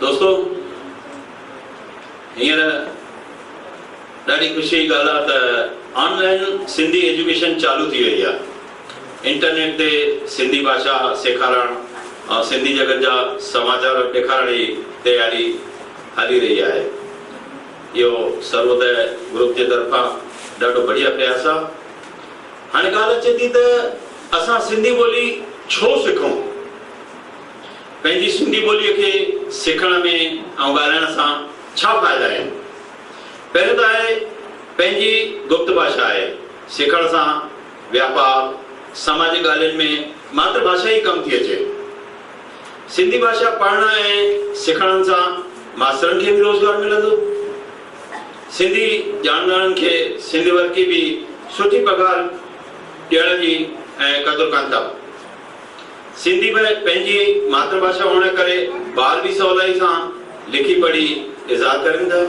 دوستو هينئر ڏاڍي خوشي جي ڳالهه آهي ته آن لائن سنڌي ايجوڪيشن چالو ٿي وئي آهي انٽرنيٽ تي سنڌي ڀاشا سيکارڻ ۽ سنڌي جڳت جا سماچار ڏيکارڻ جي تياري هلي رهي آهي. اهو سروودئي گروپ جي طرفان ڏاڍو بڙيا پرياس آ. هاڻي ڳالهه اچي ٿي ته اسان سنڌي ٻولي ڇو سکون؟ پنهنجي سنڌي ٻوليء کي سکڻ ۾ ۽ ڳالهائڻ سان ڇا فائدا آهن؟ پهريون ته آهي پنهنجي گپت ڀاشا آهي. سکڻ سان واپار، سماجي ڳالهين ۾ ماتر ڀاشا ئي ڪم ٿي اچي. سنڌي ڀاشا پڙهڻ ۽ سکڻ سان ماسترن کي به روزگار ملندو. سنڌي ڄاڻندڙن کي سنڌ ورقي به سٺي پگهار ڏيڻ جي ۽ قدر ڪن ٿا. سنڌي به پنهنجي ماتر ڀاشا هئڻ ڪري ٻار به سولائي سان لکي پڙهي اظهار ڪرين ٿا.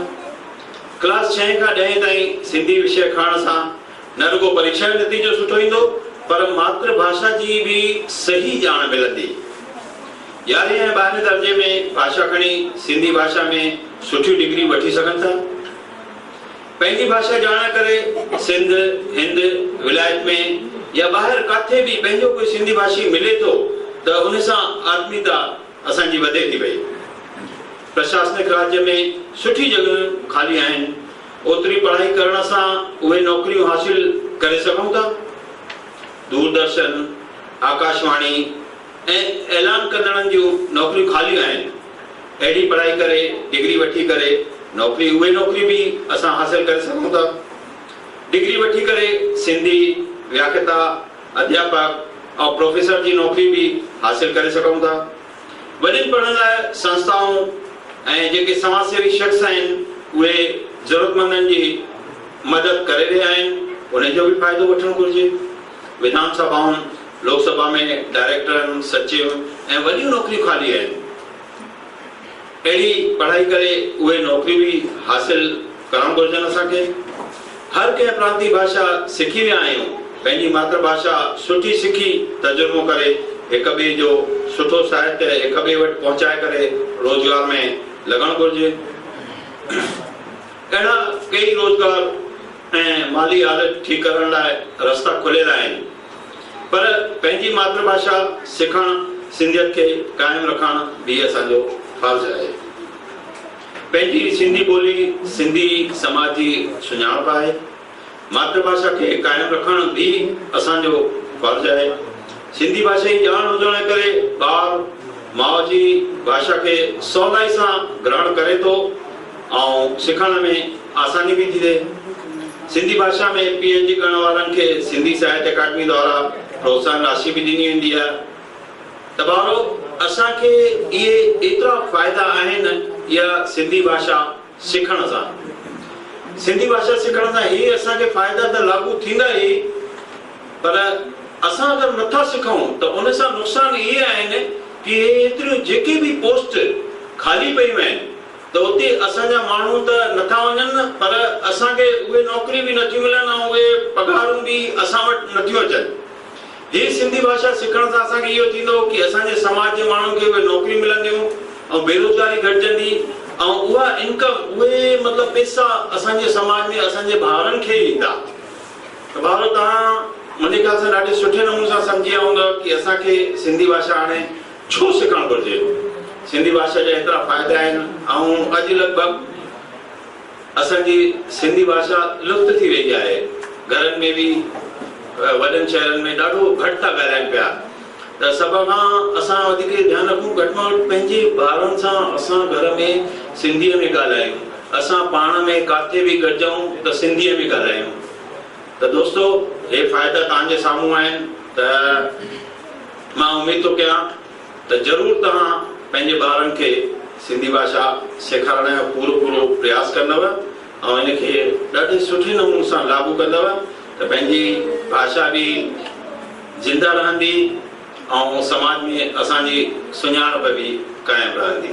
ڪلاس ڇهين کان ڏهين تائين سنڌي وشيه کڻڻ سان نه رڳو پريکيا جو نتيجو سٺو ايندو پر ماتر ڀاشا جي به صحيح ڄاڻ ملندي. يارهين ۽ ٻارهين درجي ۾ ڀاشا کڻي سنڌي ڀاشا ۾ سٺيون ڊگريون وٺي سگهن ٿا. پنهنجي ڀاشا ڄاڻڻ ڪري سنڌ، هند، ولايت ۾ يا ٻاهر ڪاٿي به پنهنجو ڪوئي سنڌي ڀاشي ملي ٿو ته ان سان آتميتا اسان جي وڌي ٿي وئي. پرشاسنڪ راڄ ۾ سٺيون جڳهيون خالي آهن. اوتري پڙهائي ڪرڻ سان اهي نوڪريون حاصل ڪري سگهون ٿا. دوردرشن، آڪاشواڻي ۽ اعلان ڪندڙن جون نوڪريون خاليون آهن. اهڙي پڙهائي ڪري، ڊگري وٺي ڪري نوڪري اهي نوڪريون به اسان حاصل ڪري سگهون ٿا. ڊگري وٺي ڪري سنڌي، وياکتا، اڌياپڪ ۽ پروفيسر جي نوڪري به حاصل ڪري سگهون ٿا. وڏين پڙهڻ لاء سنسٿائون ۽ جيڪي سماج سيوي شخص آهن اهي ضرورتمندن جي مدد ڪري رهيا آهن انهي جو به فائدو وٺڻ گهرجي. وڌان سڀائن، لوڪ سڀا ۾ ڊائريڪٽرن، سچيو ۽ وڏيون نوڪريون خالي آهن. اهڙي پڙهائي ڪري اهي نوڪري به حاصل ڪرڻ گهرجن اسان کي هر ڪنهن پرانتي ڀاشا سکي ويا آهيون پنهنجي ماتر ڀاشا سٺي سکي ترجمو ڪري هڪ ٻئي جو سٺو ساهتيه هڪ ٻئي وٽ پهچائي ڪري روزگار ۾ لڳڻ گهرجي اهڙا ڪيئي روزگار ۽ مالي حالت ٺيڪ ڪرڻ لاء رستا کليل آهن. پر پنهنجي ماتر ڀاشا سکڻ سنڌيت کي قائم رکڻ به اسان جو فرض آهي. پنهنجي سنڌي ٻولي سنڌي سماج جي سڃاڻپ آهي. ماتر ڀاشا کي قائم رکڻ به اسان جو فرض آهي. سنڌي ڀاشائي ڄاڻ هجڻ جي ڪري ٻار ماء جي ڀاشا کي سولائي سان گرهڻ ڪري ٿو. ۽ سکڻ ۾ آساني به ٿي ٿئي. سنڌي ڀاشا ۾ پي ايڇ ڊي ڪرڻ وارن کي سنڌي ساهت اڪاڊمي دوارا پروتساهن راشي به ڏني ويندي آهي. ته ڀائرو اسان کي اهي ايترا فائدا آهن يا سنڌي ڀاشا سکڻ سان. سنڌي ڀاشا سکڻ سان هي اسان کي فائدا ته لاڳو ٿيندا ئي پر اسان اگر نٿا سکون ته ان سان نقصان اهي آهن ڪي هي ايتريون جيڪي به پوسٽ خالي پيون آهن ته اتي اسان جا ماڻهو ته نٿا وڃن پر اسان کي اهي نوڪريون به نٿيون ملن ۽ اهي پگهارون به اسان وٽ نٿيون اچن. هي سنڌي ڀاشا سکڻ سان اسان کي اهو ٿيندو ڪي اسان جي سماج جي ماڻهن کي اهي نوڪريون ملنديون ۽ بيروزگاري گهٽجندي ۽ اها انڪم اهي مطلب پيسا اسان جي سماج ۾ اسان جي ڀائرن کي ئي ايندا. ته ڀائرو توهان منهنجي خيال سان ڏاڍي سٺي نموني سان سمجهي آئونگا ڪي اسان کي سنڌي ڀاشا هاڻي ڇو سکڻ گهرجي؟ سنڌي ڀاشا جا ايترا فائدا آهن ۽ اڄ لڳ ڀڳ اسان جي سنڌي ڀاشا لپت ٿي وئي آهي گهرن ۾ به وڏن شهرن ۾ ڏاڍو گهٽ ٿا ڳالهائين پيا ته سڀ کان اسان وڌيڪ اهو ڌيان رکون گهٽ مان گهٽ پنهنجي ٻارن سان اسان گهر ۾ سنڌي ۾ ڳالهايون اسان پاڻ ۾ ڪاٿي به گڏجون ته سنڌي ۾ ڳالهايون. ته دوستو هي فائدا توهان جي سامهون آهن ته مان اميد ٿو ڪيان ته ضرور توهان پنهنجي ٻارن کي سنڌي ڀاشا سيکارڻ جو پورو پورو پرياس ڪندو ۽ ان کي ڏاڍي سٺي نمون سان لاڳو ڪندو ته پنهنجي ڀاشا به زنده رهندي ۽ سماج ۾ اسان جي سڃاڻپ به قائم رهندي.